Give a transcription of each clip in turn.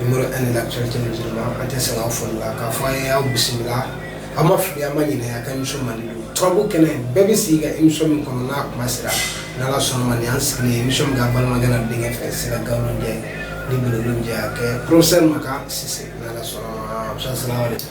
Numéro 1 de l'actualité musulmane an tɛ sɛgɛn aw foli la k'a fɔ aw ye aw bisimila aw ma fili aw ma ɲinɛ aw ka émission mandi don turabu kɛnɛ bɛɛ bɛ sigi ka émission min kɔnɔ n'a kuma sera n'Ala sɔnna ma nin y'an sigilen ye émission in kan an balimakɛ n'an denkɛ fɛ Sira Gawulo Njayi ni Bɛlɛdugu Njayi a kɛ professeur Makan Sise n'Ala sɔnna ma professeur salamaleku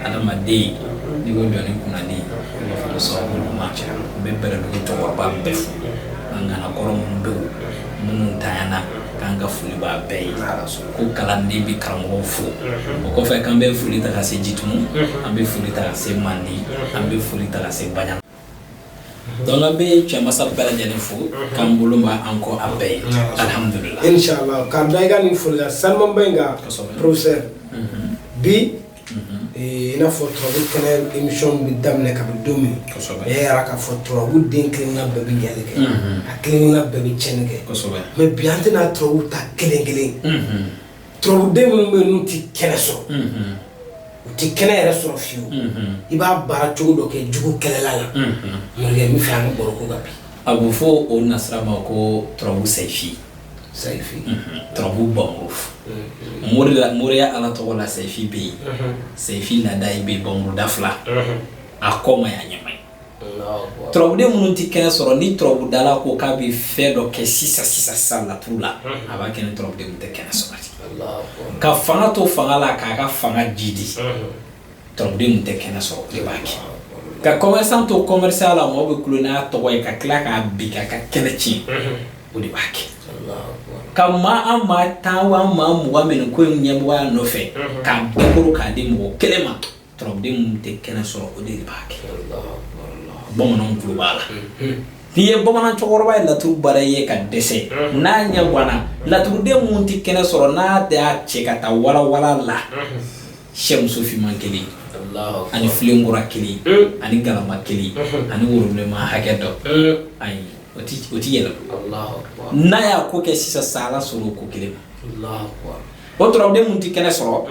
adamaden n'i ko jɔn ni kunnandi b'a fɔ sababu ɲuman cɛ n bɛ bɛlɛdugu cɛkɔrɔba bɛɛ fo ŋana kɔrɔ minnu bɛ wo minnu tanyana k'an ka foli b'a bɛɛ ye ko kalanden bɛ karamɔgɔw fo o kɔfɛ k'an bɛ foli ta ka se jitumu an bɛ foli ta ka se mandi an bɛ foli ta ka se baɲa donc an bɛ cɛmasa bɛɛ lajɛlen fo k'an bolo ma an kɔ a bɛɛ ye alhamdulillah inshallah k'an da i ka nin foli la sanumaba in kan professeur bi i n'a fɔ turabu kɛnɛ émission bɛ daminɛ kabi don min e y'a yira k'a fɔ turabu den kelen-kelenna bɛɛ bɛ ɲɛli kɛ a kelen-kelenna bɛɛ bɛ tiɲɛni kɛ mais bi an tɛna turabu ta kelen-kelen turabuden minnu bɛ yen n'u tɛ kɛnɛ sɔrɔ u tɛ kɛnɛ yɛrɛ sɔrɔ fiyewu i b'a baara cogo dɔ kɛ jugu kɛlɛla la morikɛ n b'a fɛ an ka baro k'o kan bi a bɛ fɔ o nasira ma ko turabu sɛyifi sɛyifi turabu npanmuru moriya ala tɔgɔ la sɛyifi bɛ yen sɛyifi nada i bɛ npanmuru da fila a kɔ ma ye a ɲɛ ma ye turabuden minnu tɛ kɛnɛ sɔrɔ ni turabudala ko k'a bɛ fɛn dɔ kɛ sisan sisan sa laturu la a b'a kɛ ni turabuden minnu tɛ kɛnɛ sɔrɔ ka fanga to fanga la k'a ka fanga jiidi Turabuden minnu tɛ kɛnɛ sɔrɔ de b'a kɛ ka commerçant to commerçantya la mɔgɔ bɛ kunya tɔgɔ ye ka tila k'a bin ka kɛlɛ tiɲɛ o de b'a kɛ ka maa an maa tan maa mugan bɛ ko in ɲɛmɔgɔya nɔfɛ k'a bɛɛ kuru k'a di mɔgɔ kelen ma turabuden minnu tɛ kɛnɛ sɔrɔ o de b'a kɛ bamanan b'a la n'i ye bamanan cɛkɔrɔba ye laturu baara ye ka dɛsɛ n'a ɲɛ ganana laturuden minnu tɛ kɛnɛ sɔrɔ n'a de y'a cɛ ka taa walawala la sɛmuso finman kelen ani filenkura kelen ani galama kelen ani woro bilenman hakɛ dɔ ayi o tɛ yɛlɛma n'a y'a ko kɛ sisan sa Ala sɔnna o ko kelen ma o turabuden minnu tɛ kɛnɛ sɔrɔ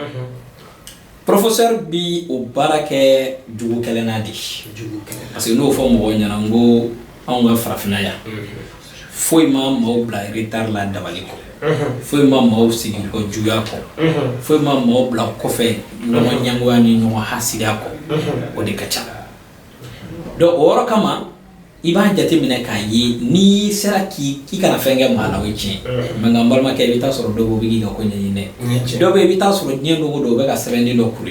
professeur bi o baara kɛ jugu kɛlɛ la di parce que n'o fɔ mɔgɔw ɲɛna n ko anw ka farafinna yan foyi ma maaw bila retard la dabali kɔ foyi ma maaw sigi kɔ juguya kɔ foyi ma maaw bila kɔfɛ ɲɔgɔn ɲɛngoya ni ɲɔgɔn hasidiya kɔ o de ka ca donc o yɔrɔ kama i b'a jate minɛ k'a ye n'i sera k'i i kana fɛn kɛ maa la o ye tiɲɛ mais nka n balimakɛ i bɛ taa sɔrɔ dɔw bɛ k'i ka ko ɲɛɲini dɔw bɛ i bɛ taa sɔrɔ diɲɛ dogo don o bɛ ka sɛbɛnden dɔ kuru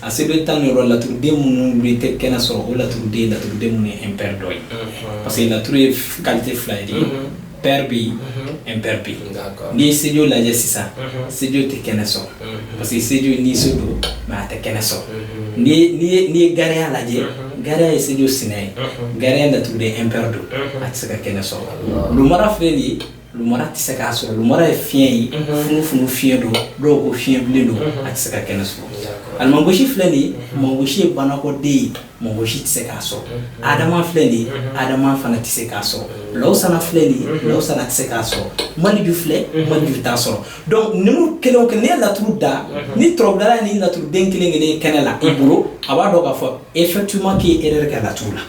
A se bɛ tan ni wɔɔrɔ laturuden minnu tɛ kɛnɛ sɔrɔ o laturuden laturuden minnu ye impair dɔ ye parce que laturu ye qualité fila ye pair bɛ yen impair bɛ yen n'i ye sejo lajɛ sisan sejo tɛ kɛnɛ sɔrɔ parce que sejo ni se don mɛ a tɛ kɛnɛ sɔrɔ n'i ye gariya lajɛ gariya ye sejo sen ye gariya laturuden impair don a tɛ se ka kɛnɛ sɔrɔ lumara filɛ nin ye Lumara tɛ se k'a sɔrɔ lumara ye fiɲɛ ye funufunu fiɲɛ don dɔw ko fiɲɛ bilen don a tɛ se ka kɛnɛ sɔrɔ almangosi filɛ nin ye mangosi ye banakɔden ye mangosi tɛ se k'a sɔrɔ adama filɛ nin ye adama fana tɛ se k'a sɔrɔ lawsana filɛ nin ye lawsana tɛ se k'a sɔrɔ maleju filɛ maleju t'a sɔrɔ donc ninnu kelen kɛ ne laturu da ni tɔrɔda ni laturuden kelen kelen kɛnɛ la e bolo a b'a dɔn k'a fɔ effectivement k'i e yɛrɛ kɛ laturu la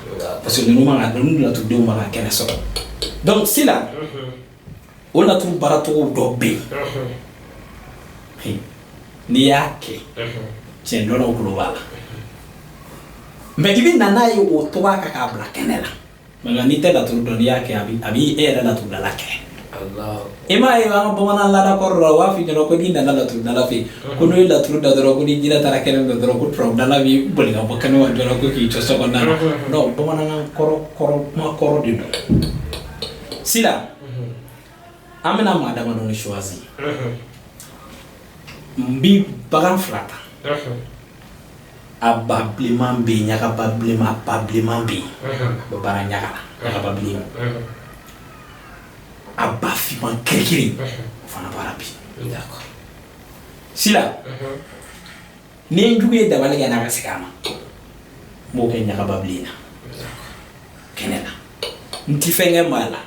parce que ninnu ka laturuden ma kɛnɛ sɔrɔ Donc sila o laturu baaracogo dɔ bɛ yen n'i y'a kɛ cɛn dɔnnaw globalement i bɛ na n'a ye o to a ka kan ka bila kɛnɛ la nka n'i tɛ laturu dɔn n'i y'a kɛ a b'i e yɛrɛ laturudala kɛ E m'a ye an ka bamanan laada kɔrɔ la u b'a f'i ɲɛna ko n'i nana laturudala fɛ yen ko n'o ye laturu da dɔrɔn ko ni jinɛ taara kɛnɛ dɔ dɔrɔn ko turabudala b'i boli ka bɔ kɛnɛ ma dɔrɔn ko k'i jɔ so kɔnɔna na non bamanankan kɔrɔ kɔrɔ kuma kɔrɔ de don sila an bɛna maa damadɔ de choisir n bi bagan fila ta a ba bilenman bɛ yen ɲaga ba bilenman ba bilenman bɛ yen o bɛ baara ɲaga la ɲaga ba bilenman a ba finman kirikiri o fana baara bi sila ni n jugu ye dabali kɛ n na ka segin a ma n b'o kɛ ɲagaba bilen na kɛnɛ na n ti fɛn kɛ maa la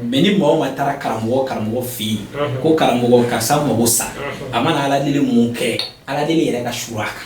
mais ni maa o maa taara karamɔgɔ fɛ yen ko karamɔgɔ karisa mago sa a mana ala deli mun kɛ ala deli yɛrɛ ka su a kan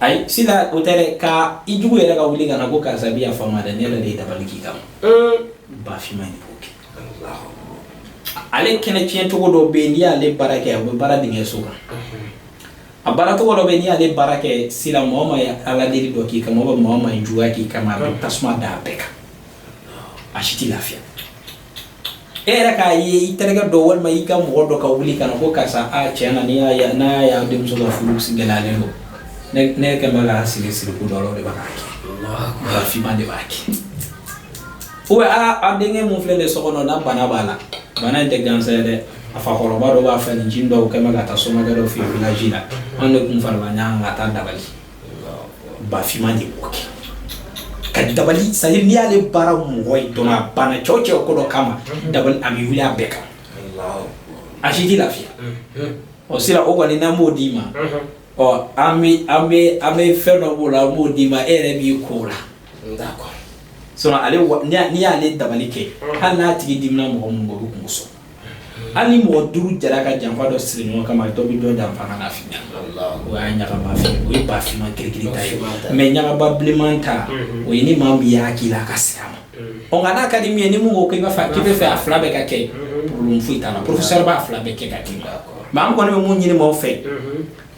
ayi sila o tɛ dɛ ka i jugu yɛrɛ ka wuli ka na ko karisa bi yafa n ma dɛ ne yɛrɛ de ye dabali k'i kama ba finman de b'o kɛ ale kɛnɛ tiɲɛ cogo dɔ bɛ yen n'i y'ale baara kɛ a bɛ baara dingɛ so kan a baara cogo dɔ bɛ yen n'i y'ale baara kɛ sila maa o maa ye ala deli dɔ k'i kama maa o maa ye juguya k'i kama a bɛ tasuma da a bɛɛ kan a si tɛ lafiya e yɛrɛ k'a ye i terikɛ dɔ walima i ka mɔgɔ dɔ ka wuli ka na ko karisa a tiɲɛ na n'a y'a denmuso ka furu gɛlɛyalen don ne kɛ bɛ ka sigi siriku dɔ de b'a kɛ ba finman de b'a kɛ ou bien a denkɛ min filɛ de so kɔnɔ na bana b'a la bana in tɛ gansan ye dɛ a fakɔrɔba dɔ b'a fɛ nin jin dɔw kɛ bɛ ka taa somakɛ dɔ fɛ yen village la an de tun farala ɲɔgɔn ka taa dabali Bafinman de b'o kɛ ka dabali c'est à dire n'i y'ale baara mɔgɔ ye dɔn a banna cɛw cɛ ko dɔ kama da a bɛ wuli a bɛɛ kan a si tɛ lafiya o sira o kɔni n'an b'o d'i ma ɔ an bɛ fɛn dɔ b'o la an b'o d'i ma e yɛrɛ b'i ko la sinon n'i y'ale dabali kɛ hali n'a tigi dimina mɔgɔ min bɛ o bɛ kunko sɔrɔ hali mɔgɔ duuru jara ka janfa dɔ siri ɲɔgɔn kama dɔ bɛ dɔ janfa k'a lafili o y'a ɲagaba fin o ye bafinman kirikiri ta ye mais ɲagaba bilenman ta mhm. o ye ni maa min y'a k'i la a ka segin a ma mhm. ɔ nka n'a ka di min ye ni mun ko k'i b'a fɛ k'i bɛ fɛ a fila bɛɛ ka kɛ mhm. problème foyi t'a la professeur b'a fila bɛɛ kɛ ka d'i ma mais an kɔni bɛ mun ɲini maaw fɛ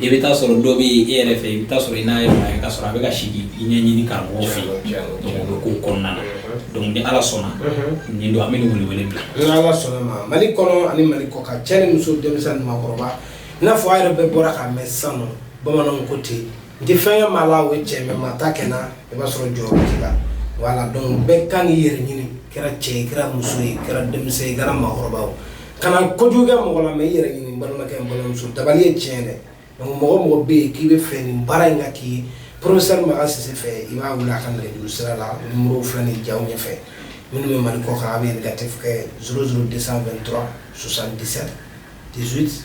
i bɛ taa sɔrɔ dɔ bɛ e yɛrɛ fɛ i bɛ taa sɔrɔ i n'a ye maa ye ka sɔrɔ a bɛ ka sigi i ɲɛɲini karamɔgɔ fɛ yen bɛ ko kɔnɔna na donc ni ala sɔnna nin don an bɛ nin wele wele bila ni ala sɔnna ma mali kɔnɔ ani mali kɔ kan cɛ ni muso denmisɛn ni maakɔrɔba i n'a fɔ a yɛrɛ bɛɛ bɔra k'a mɛn sisan nɔ bamananw ko ten n tɛ fɛn kɛ maa la o ye tiɲɛ mais maa t'a kɛ n na i b'a sɔrɔ jɔyɔrɔ t'i la voilà donc bɛɛ kan k'i yɛrɛ ɲini kɛra cɛ ye kɛra muso ye kɛra denmisɛn ye kɛra maakɔrɔba ye kana kojugu kɛ mɔgɔ la mais i yɛrɛ ɲini n balimakɛ n balimamuso dabali ye tiɲɛ dɛ donc mɔgɔ mɔgɔ bɛ yen k'i b'a fɛ nin baara in ka k'i ye professeur makan sise fɛ i b'a wele a ka nɛgɛjuru sira la numéro filɛ nin jaw ɲɛfɛ minnu bɛ mali kɔ kan a bɛ indicatif kɛ 00223 77 18